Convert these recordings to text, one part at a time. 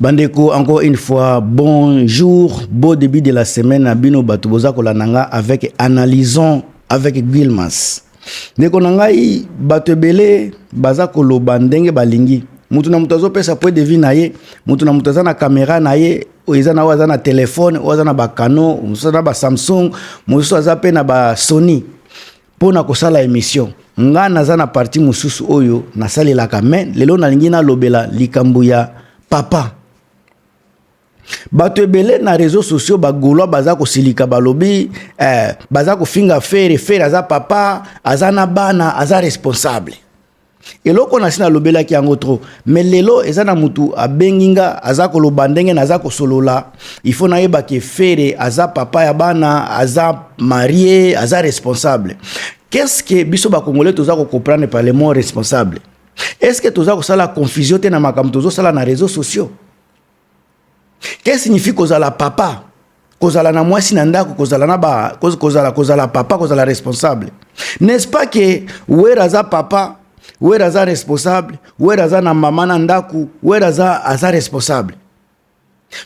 Bandeko encore une fois bonjour beau début de la semaine na bino bato boza kolanda nga avec analysons avec Guilmas ndeko na ngai bato ebele baza koloba ndenge balingi moto na moto azopesa point de vue na ye moto na moto aza na kamera na ye oyo eza na oyo aza na telefone oyo aza na bacano mosusu aza na basamsung mosusu aza mpe na basony mpo na kosala emission nga naza na parti mosusu oyo nasalelaka me lelo nalingi nalobela likambo ya papa bato ebele na réseau sociaux bagaulois baza kosilika balobi eh, baza kofinga fere fere aza papa aza na bana aza responsable Eloko na si na lobelaki yango trop mais lelo eza na mutu abengi nga aza koloba ndenge naza kosolola il faut nayeba ke Ferre aza papa ya bana aza marie aza responsable qu'est-ce que biso ba congolais toza ko comprendre par le mot responsable est-ce que toza kosala confusion te na makambo tozo sala na réseaux sociaux Qu'est-ce signifie kozala papa? Kozala na mwasi na ndako, kozala na ba kozala kozala papa, kozala responsable. N'est-ce pas que Wera aza papa, Wera aza responsable, Wera aza na mama na ndako, Wera aza aza responsable.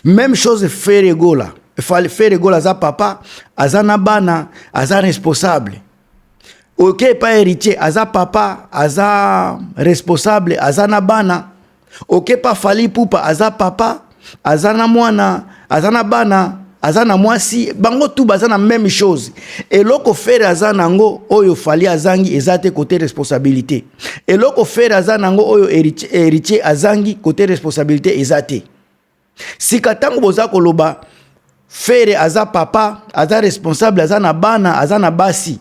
Même chose Ferre Gola. Ferre Gola aza papa, aza na bana, aza responsable. oke epai heritier aza papa aza responsable aza na bana oke pa fali pupa aza papa aza na mwana aza na bana aza na mwasi bango tu baza na meme chose eloko fere aza nango oyo fali azangi eza te kote responsabilité eloko fere aza nango oyo heritier azangi kote responsabilité eza te Sika tango boza koloba Ferre aza papa, aza responsable, aza na bana, aza na basi.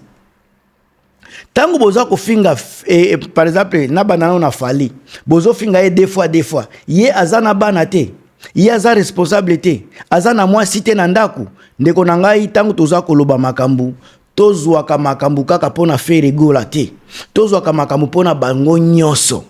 Tango boza kofinga eh, eh, par exemple na bana nao na Fally, bozo finga ye deux fois deux fois. Ye aza na bana te. Ye aza responsable te. Aza na mwasi te na ndako. Ndeko na ngai tango toza koloba makambo tozwaka makambo kaka mpo na Ferre Gola te. Tozwaka makambo mpo na bango nyonso.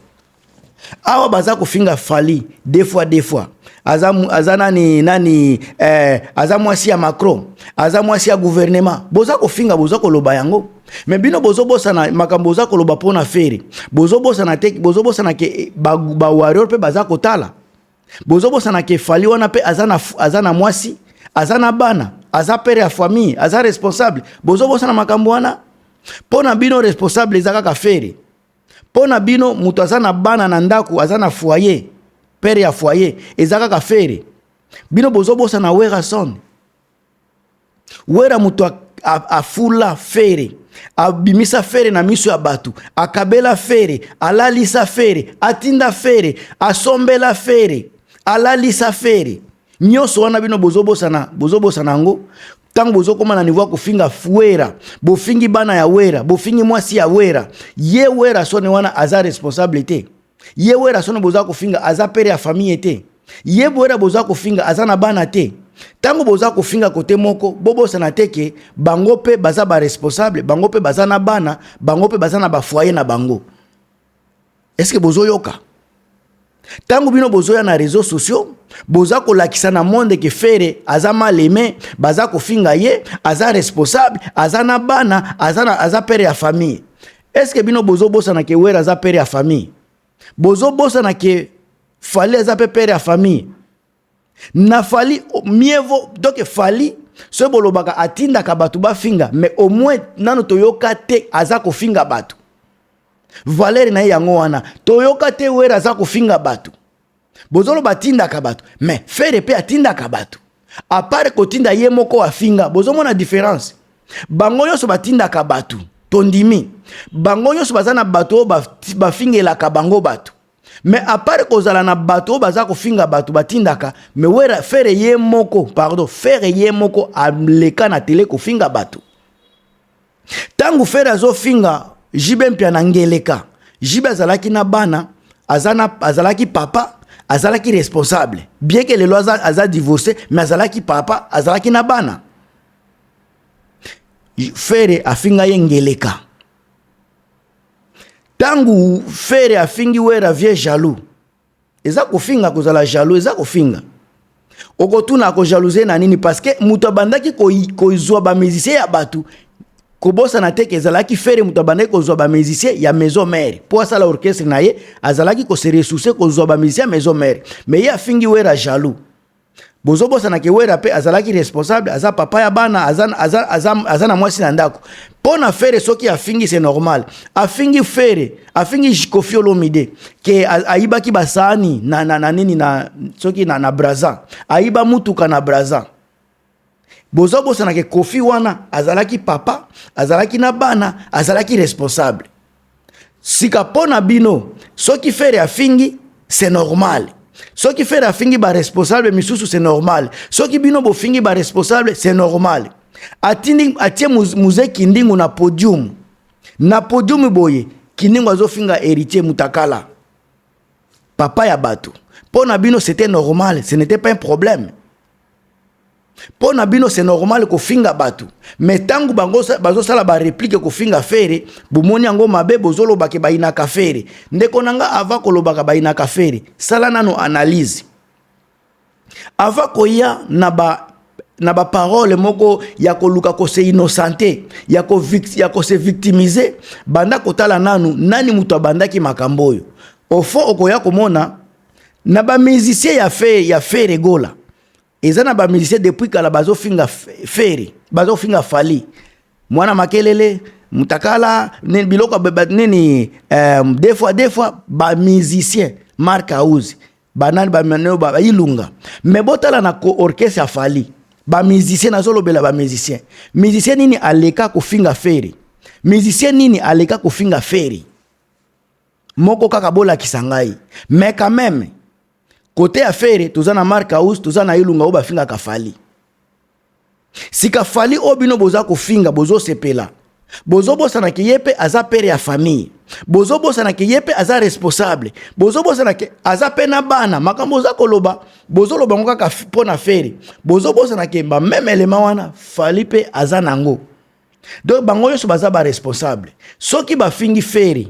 awa baza kofinga fali deux fois deux fois aza, aza nani nani eh, aza mwasi ya macron aza mwasi ya gouvernement boza kofinga boza koloba yango me bino bozobosana makambo boza koloba mpo na fere bozobosana te bozobosana ke eh, bawarrior ba mpe baza kotala bozobosana ke fali wana mpe aza na, aza na mwasi aza na bana aza pere ya famille aza responsable bozobosana makambo wana mpo na bino responsable eza kaka fere Mpo na bino moto aza na bana na ndako aza na foyer, pere ya foyer eza kaka Ferre. Bino bozobosana Werrason. Werra moto afula Ferre, abimisa Ferre na miso ya bato, akabela Ferre, alalisa Ferre, atinda Ferre, asombela Ferre, alalisa Ferre. Nyoso wana bino bozo bosana, bozo bosana yango tango bozo koma na niveau ya kofinga Fuera, bofingi bana ya Wera, bofingi mwasi ya Wera. Ye Wera sone wana aza responsable te. Ye Wera sone boza kofinga aza pere ya famille te. Ye Wera boza kofinga aza na bana te. Tango boza kofinga kote moko, bobosana te ke bango pe baza ba responsable, bango pe baza na bana, bango pe baza na ba foyer na bango. eske bozoyoka ntango bino bozoya na réseau sociaux boza kolakisa na monde ke fere aza mal aime baza kofinga ye aza responsable aza na bana aza, na, aza pere ya famille eske bino bozobosana ke were aza pere ya famille bozobosana ke fali aza mpe pere ya famille na fali mieux vaut donc fali soki bolobaka atindaka bato bafinga mais au moins nano toyoka te aza kofinga bato valere na ye yango wana toyoka te were aza kofinga bato bozoloba atindaka bato mais fere mpe atindaka bato apart kotinda ye moko afinga bozomona diference bango nyonso batindaka bato tondimi bango nyonso baza na bato oyo bafingelaka bango bato mais apart kozala na bato oyo baza kofinga bato batindaka mais wera fere ye moko pardon fere ye moko aleka na tele kofinga bato ntango fere azofinga jibe mpia na ngeleka jibe azalaki na bana azana, azalaki papa azalaki responsable bien ke lelo aza, aza divorce mais azalaki papa azalaki na bana fere afinga ye ngeleka Tangu Ferre afingi Werra vieux jaloux. Eza kofinga kozala jaloux, eza kofinga. Okotuna ako jalouser na nini parce que mutu abandaki kozwa ba musiciens ya batu kobosana te ke ezalaki Ferre mutu abandaki kozwa ba musiciens ya maison mère po asala orchestre na ye, azalaki ko se ressourcer kozwa ba musiciens ya maison mère. Mais ye afingi Werra jaloux. bozo bosana ke wera pe azalaki responsable aza papa ya bana aza, aza, aza, aza na mwasi na ndako mpo na fere soki afingi c'est normal afingi fere afingi kofi olomide ke ayibaki basaani na, na, na nini na soki na, na braza ayiba mutuka na braza Bozo bosana ke Koffi wana azalaki papa, azalaki na bana, azalaki responsable. Sika po na bino soki Ferre afingi c'est normal. Soki Ferre afingi ba responsable misusu c'est normal. Soki bino bofingi ba responsable c'est normal. Atindi atie muze kindingu na podium. Na podium boye kindingu azofinga héritier mutakala. Papa ya bato. Po na bino c'était normal, ce n'était pas un problème. mpo na bino se normal kofinga bato me ntango bango bazosala bareplike kofinga fere bomoni yango mabe bozolobake bayinaka fere ndeko na nga ava kolobaka bayinaka fere sala nano analyse ava koya na ba na baparole moko ya koluka kose innosante ya kose ya ko victimize banda kotala nanu nani moto abandaki makambo oyo ofo okoya komona na ba musicien ya fe ya fere gola eza na ba musicien depuis kala bazofinga fere bazofinga fali mwana makelele mutakala nini biloko nini euh, des fois des fois ba musicien mark house banani bamaneo bailunga me botala na ko orchestre ya fali bamusicien nazolobela bamusicien musicien nini aleka kofinga fere musicien nini aleka kofinga fere moko kaka bolakisa ngai mais quand même kote ya fere toza na mark house toza na ilunga oyo bafingaka fali sika fali oyo bino boza kofinga bozosepela bozobosana ke ye mpe aza pere ya famille bozobosana ke ye mpe aza responsable bozobosana ke aza mpe na bana makambo oza koloba bozoloba yango kaka mpo na fere bozobosana ke bameme elema wana fali mpe aza na yango donc bango nyonso baza baresponsable soki bafingi feri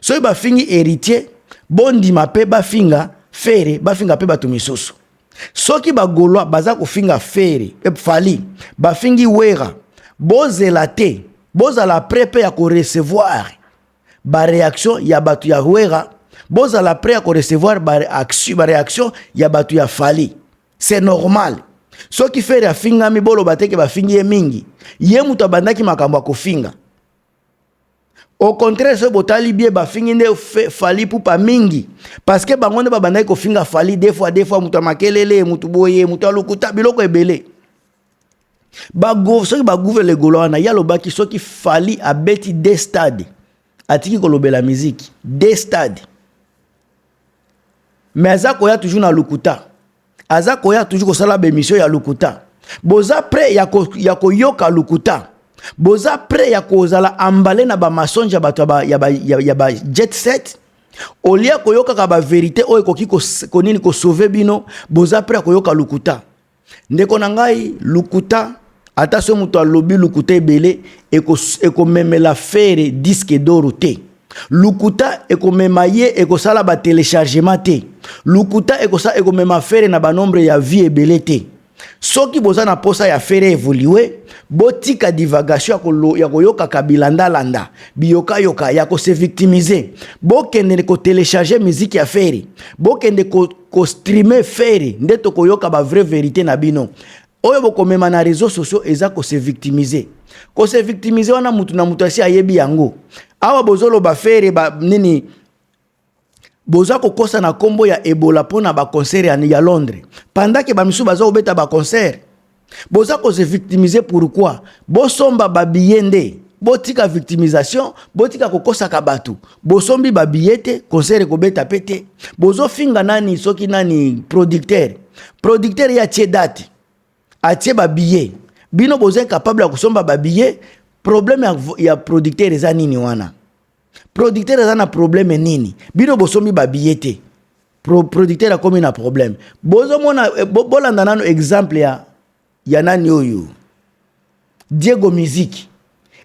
soki bafingi héritier bondima mpe bafinga fere bafinga mpe bato misusu soki bagolwa baza kofinga fere eh, fali bafingi wera bozela te bozala pre mpe ya korecevoir bareaction ya bato ya wera bozala pre ya korecevoir bareaction ya bato ya fali c'est normal soki fere afingami boloba te ke bafingi ye mingi ye moto abandaki makambo ya kofinga au contraire soki botali bie bafingi nde fali pupa mingi parce que bango nde babandaki kofinga fali de fois de fois moto ya makelele moto boye moto ya lokuta biloko ebele soki bagouve legolo wana ye alobaki soki fali abeti de stade atiki kolobela miziki de stade mais aza koya toujours na lokuta aza koya toujours kosala bemission ya lokuta boza près ya, ko, ya koyoka lokuta boza près ya kozala embale na bamasonge ya bato ya ba, ya, ya ba jet set olie koyokaka baverité oyo ekoki konini kosauve bino boza près ya koyoka lokuta Ndeko na ngai lokuta ata soki moto alobi lokuta ebele ekomemela eko fere diske doro te lokuta ekomema ye ekosala batelechargement te lokuta ekosa ekomema fere na banombre ya vie ebele te soki boza na mposa ya fere evolue botika divagation ya koyokaka bilandalanda biyokayoka ya kose victimize bokende kotelecharge miziki ya fere bokende ko ko streamer Ferre nde toko yoka ba vraie verite na bino. Oyo bokomema na réseaux sociaux eza ko se victimiser. Ko se victimiser wana mutu na mutu asi ayebi yango. Awa bozoloba Ferre ba nini boza kokosa na kombo ya Ebola pona ba concert ya Londres. Pendant que ba misusu baza kobeta ba concert boza ko se victimiser pourquoi bosomba ba billets nde botika victimisation botika kokosaka bato bosombi babiye te concert ekobeta mpe te bozofinga nani soki nani producteur producteur ye atie date atie babiye bino boza incapable ya kosomba babiye problème ya, ya producteur eza nini wana producteur aza na problème nini bino bosombi babiye te Pro, producteur akomi na problème. Bozo mona eh, bo, bolanda nanu exemple ya ya nani oyo Diego Musique.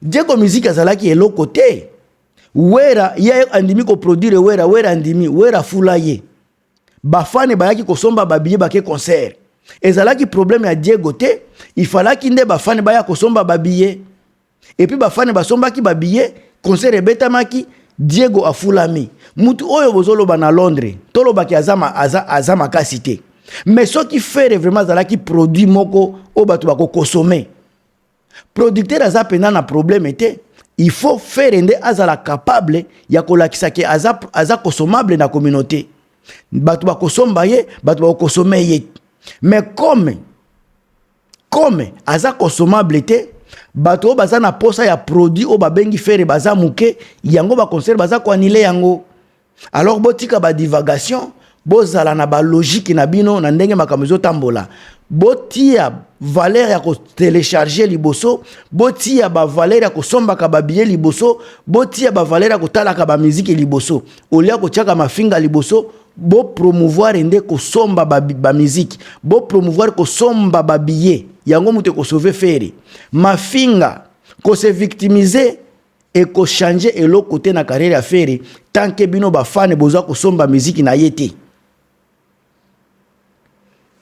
Diego Musique azalaki eloko te. Wera ye andimi ko produire Wera, Wera andimi, Wera fula ye. Bafane bayaki kosomba babiye bake concert. Ezalaki problème ya Diego te, ifalaki nde bafane baya kosomba babiye. Et puis bafane basombaki ba billets, concert ebetamaki, Diego afulami. Mutu oyo bozoloba na Londres, tolobaki aza, aza, aza makasi te. Mais soki Ferre vraiment azalaki produit moko oyo bato bakokosome, producteur aza mpenza na problème te. Il faut Ferre nde azala capable ya kolakisa ke aza, aza consommable na communauté. Bato bakosomba ye, bato bakokosome ye. Mais comme Comme aza consommable te, bato oyo baza na posa ya produit oyo babengi fere baza moke, yango ba concert baza ko annuler yango. Alors botika ba divagation, bozala na ba logique na bino na ndenge makambo ezotambola. Botia valeur ya ko telecharger liboso, botia ba valeur ya kosombaka ba billets liboso, botia ba valeur ya kotalaka ba musique liboso. Au lieu ya kotiaka mafinga liboso, bo promouvoir nde kosomba ba, ba musique bo promouvoir kosomba ba billets yango moto ekosauve fere mafinga kose victimiser ekochange eloko te na carrière ya fere tanke bino bafane boza kosomba miziki na ye te